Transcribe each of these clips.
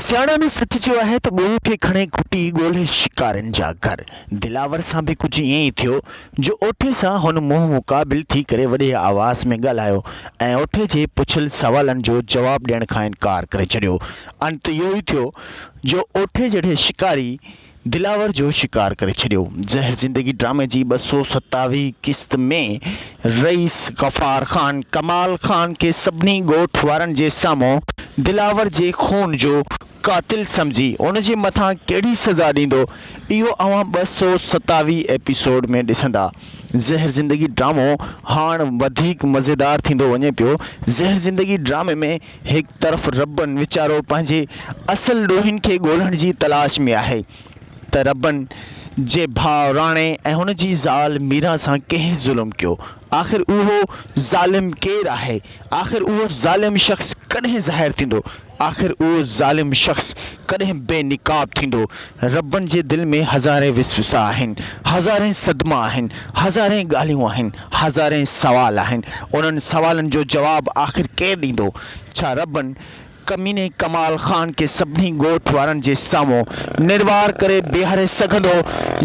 سياڻن سچ چيو آهي ته ڳوڙهو کي کڻي گهٽي ڳولهي شڪارين جا گهر. دلاور سان به ڪجهه ائين ئي ٿيو جو اوٺي سان هن منهن مقابل ٿي ڪري وڏي آواز ۾ ڳالهايو ۽ اوٺي جي پڇيل سوالن جو جواب ڏيڻ کان انڪار ڪري ڇڏيو. انت اهو ئي ٿيو جو اوٺي جهڙي شڪاري. دلاور جو شڪار ڪري ڇڏيو. زهر زندگي ڊرامي جي ٻه سؤ ستاويهين قسط ۾ رئيس غفار خان ڪمال خان کي سڀني ڳوٺ وارن جي سامهون دلاور جي خون جو قاتل سمجهي ان جي مٿان ڪهڙي سزا ڏيندو اهو اوهان ٻه سؤ ستاويهين ايپيسوڊ ۾ ڏسندا. زهر زندگي ڊرامو هاڻ وڌيڪ مزيدار ٿيندو وڃي پيو. زهر زندگي ڊرامي ۾ هڪ طرف ربن ويچارو پنهنجي اصل ڏوهين کي ڳولڻ جي تلاش ۾ آهي ته ربن جي ڀاء راڻي ۽ هن جي زال ميران سان ڪنهن ظلم ڪيو آخر اهو ظالم ڪير آهي آخر اهو ظالم شخص ڪڏهن ظاهر ٿيندو آخر اهو ظالم شخص ڪڏهن بي نقاب ٿيندو ربن جي دل ۾ هزارين وسوسا آهن، هزارين صدما آهن، هزارين ڳالهيون آهن، هزارين سوال آهن. انهن سوالن جو جواب آخر ڪير ڏيندو؟ ڇا ربن ڪميني ڪمال خان کي سڀني ڳوٺ وارن جي سامهون نروار ڪري بيهاري سگهندو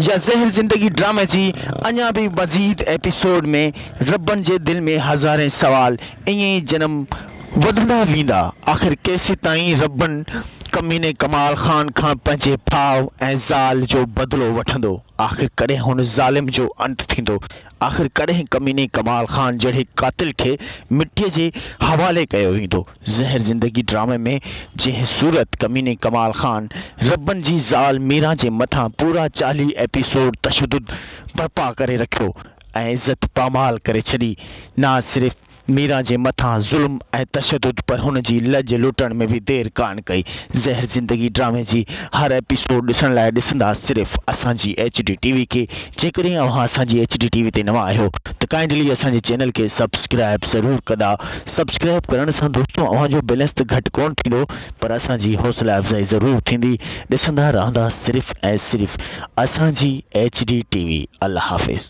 يا زهر زندگي ڊرامي جي اڃا به مزيد ايپيسوڊ ۾ ربن جي دل ۾ هزارين سوال ائين ئي جنم وڌندا ويندا. آخر ڪيسيتائين ربن ڪميني ڪمال خان کان پنهنجي ڀاء ۽ زال جو بدلو وٺندو؟ آخر ڪڏهن هن ظالم جو انت ٿيندو؟ آخر ڪڏهن ڪميني ڪمال خان جهڙي قاتل کي مٽيء جي حوالي ڪيو ويندو؟ زهر زندگي ڊرامي ۾ جنهن صورت ڪميني ڪمال خان ربن جي زال ميران جي مٿان پورا چاليهه ايپيسوڊ تشدد برپا ڪري رکيو ۽ عزت پامال ڪري ڇڏي. نه صرف ميران جي مٿان ظلم ۽ تشدد پر هن جي لڄ لٽڻ ۾ به دير ڪانه ڪئي. زهر زندگي ڊرامي جي هر ايپيسوڊ ڏسڻ لاء ڏسندا صرف اسان جي ايچ ڊي ٽي وي کي. جيڪڏهن اوهان اسان جي ايچ ڊي ٽي وي تي نوان آهيو ته ڪائنڊلي اسان جي چينل کي سبسڪرائب ضرور ڪندا. سبسڪرائب ڪرڻ سان دوستو اوهان جو بيلنس ته گهٽ ڪونه ٿيندو پر اسان جي حوصلا افزائي ضرور ٿيندي. ڏسندا رهندا صرف ۽ صرف اسان جي ايچ ڊي ٽي وي. الله حافظ.